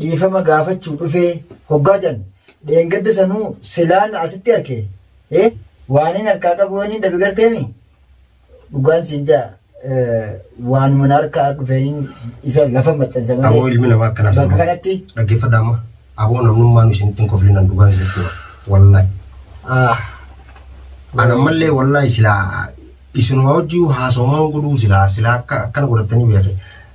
dhiifama gaafachuu dhufee hoggaa jan dheengadda sanuu silaan asitti arke eh waanin harkaa qabu wanni dhabe garteemi dhugaan siin jaa waanuma na harkaa dhufeeniin isa lafa maxxansa Aboo malee ilmi namaa akkanaa bakka sana. kanatti Dhaggeeffadhaa amma. Aboo namnummaan isinitti hin koflinan dhugaan isinitti hima. Wallahi. ah, An ammallee wallahi silaa isinuma wajjin haasawamaan godhuu silaa silaa akka akkana godhattanii beekne.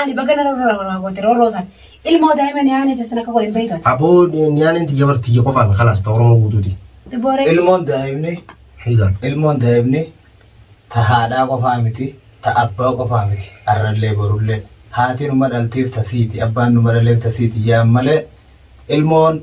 Ani baga na rorroo nama nama goote rorroo san. Ilmoo daa'ima niyaanee teessan akka godhe hin beektu ati. Aboo niyaaneen tiyya bar tiyya qofaami kalaas ta Oromoo guutuuti. Booree. Ilmoon daa'imni Hiigaan. ilmoon daa'imni ta haadhaa qofaa miti ta abbaa qofaa miti arrallee borullee haati numa dhalteef ta siiti abbaan numa dhaleef ta siiti yaa'an malee ilmoon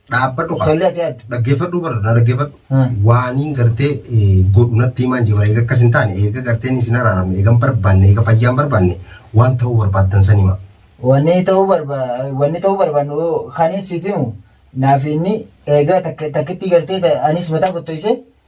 Dhaabbadhu kaa. Tollee ati adda. Dhaggeeffadhu bara na dhaggeeffadhu. Hmm. Waaniin gartee eh, godhu natti himaan jibara eega akkas hin taane eega garteen isin araaramne eegan barbaanne eega fayyaan barbaanne waan ta'uu barbaaddan san hima. Wanni ta'uu barba wanni ta'uu barbaannu kanin siif himu naaf inni eegaa takka takkitti gartee ta- anis mataa kottoise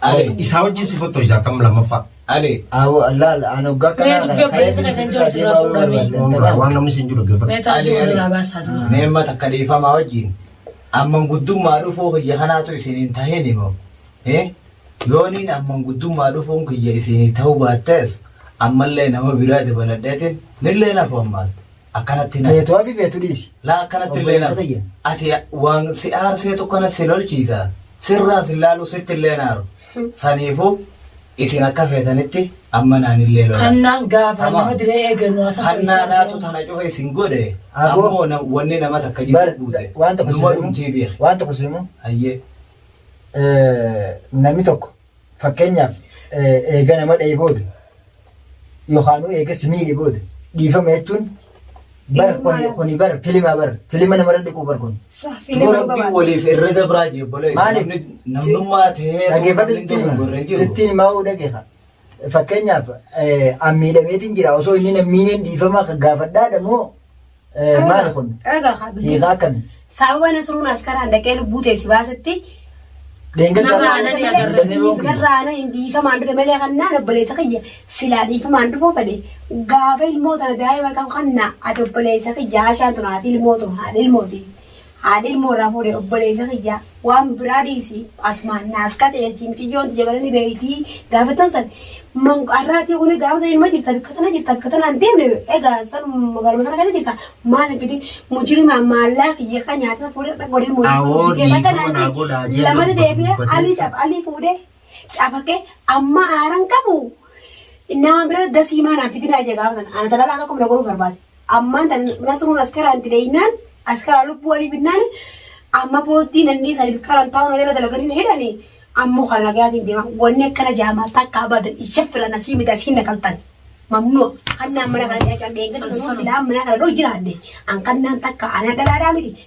Ale. Isaa wajjin si fottoisa akkam lammaffaa. Ale. Awo Allah Allah an hoggaa Mee kanaa dubbii obboleessa kana keessan jiru sirraa fuudhaa mee. Waan waan namni siin jiru geeffadhu. Meetaa Ali, jiru Ali. irraa baasaa jiru. Mee amma takka dhiifamaa wajjin. Amman guddummaa dhufuu kiyya kanaatu isin hin tahin immoo. Eh? Yooniin amman guddummaa dhufuun kiyya isin ta'uu baattees ammallee nama biraa dabaladheetiin nillee nafu ammaatti. Akkanatti na. Feetu hafi feetu dhiisi. Laa akkanatti illee na. Obboleessa tiyya. Ati waan si aarsee tokko natti si lolchiisa. Sirraan si laalu sitti illee naaru. Saniifuu isin akka feetanitti amma naan illee lola. Hannaan gaafa Tamam. nama diree eegannu haasa Hannaadhaatu tana cufa isin godhe. Aboo. Ammoo na- wanni nama takka Bar jidduu buute. waan tokko Numa dhumtii simu. beeke. Waan tokko simu. Hayyee. Namni tokko. Fakkeenyaaf eega nama dha'e booda yookaanuu eega si miidhe booda dhiifama jechuun bar kuni kuni bar filimaa bar filima namarra dhiquu bar kun. Filima rabbii waliif irra dabraa jee bolee. Maaliif? Namnummaa ta'ee. Dhaggeeffadhu sittiin hima. Sittiin himaa hoo dhaggeeffa. Fakkeenyaaf an miidhameetiin jira osoo inni nan miineen dhiifama gaafadhaadha moo Eh, Maali kun? Egaa kaa dubbii. Hiikaa akkami? Sababa Nasruun askaraan dhaqee lubbuu teessi baasetti Dheengadda Nama irraa aananii agarra. dandamee boon kiyya. Garraa aanan hin dhiifamaan dhufe malee kannaan obboleessa kiyya silaa dhiifamaan dhufuu fedhe gaafa ilmoo tana daa'ima kan kannaa ati obboleessa kiyya haashaan tun haati ilmoo tun haadha ilmooti Haadha ilmoo irraa fuudhe obboleessa kiyya waan biraa dhiisi asumaan naas kate achi miciyyoon tiyya bala ni beeyti gaafattan san manqarraatii kuni gaafa san ilma jirta bikka tana jirta bikka tanaan deemne egaa san magaaluma sana keessa jirta maal hin fidin mujirima maallaa kiyya kan nyaata fuudhe godhee mujirima Awoo bitee bakka dhiifama naan naa jee godhaa jee lamata lubbu deebi'ee alii dubbateessa. caf alii fuudhee cafaqee amma aaran qabu nama bira dasii maanaan fidinaa jee gaafa sana ana talaalaa tokko bira godhuu barbaade. Ammaan tan nasruun askaraan dileeynaan askaraa lubbuu alii binnaani amma booddii nannii saniif qaran taa'uu na jala dalaganii na hidhani ammoo kan nagaatiin deema wanni akkana jaamaa takka abadan hin shaffira nasii miti asiin na qaltan mamnuu kannaan mana kana dhiyaachaan dheengadda sanuu silaa mana kana dhoo jiraadde an kannaan takka anaa dhalaadhaa miti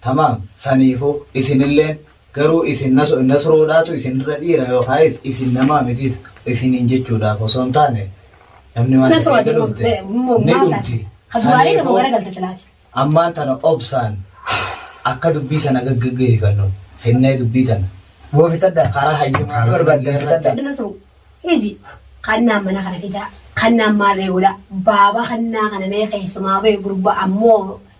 Tamaam, saniifuu, isinilleen, garuu isin Nasruudhaatu isin irra dhiira yookaayis isin namaa mitiis isiniin jechuudhaaf osoo hin taane, namni waan takka eega dhufte, ni dhumti. Saniifuu, ammaan tana obsaan akka dubbii tana gaggaggeeyfannu fennee dubbii tana. Goofitadha, karaa hayyumaa barbaaddan fixadha. Hiji, kannaan mana kana fidaa, kannaan maal ree godhaa, baaba kannaa kana mee keeysumaa bee gurbaa ammoo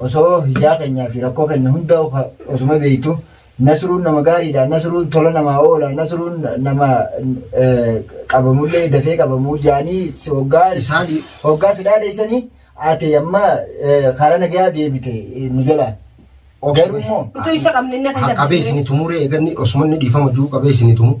Osoo hijaa kenyaa fi rakkoo kenna hundaa osuma beektu Nasruun nama gaariidha Nasruun tola namaa oola Nasruun nama qabamullee dafee qabamuu jaanii hoggaa si dhaadheessanii ati amma karaa nagayaa deebite nu jalaa. Garuu immoo. Utuu isa qabne inni akka isa. Qabee isin tumuree eeganni osuma inni dhiifama juu qabee isin tumu.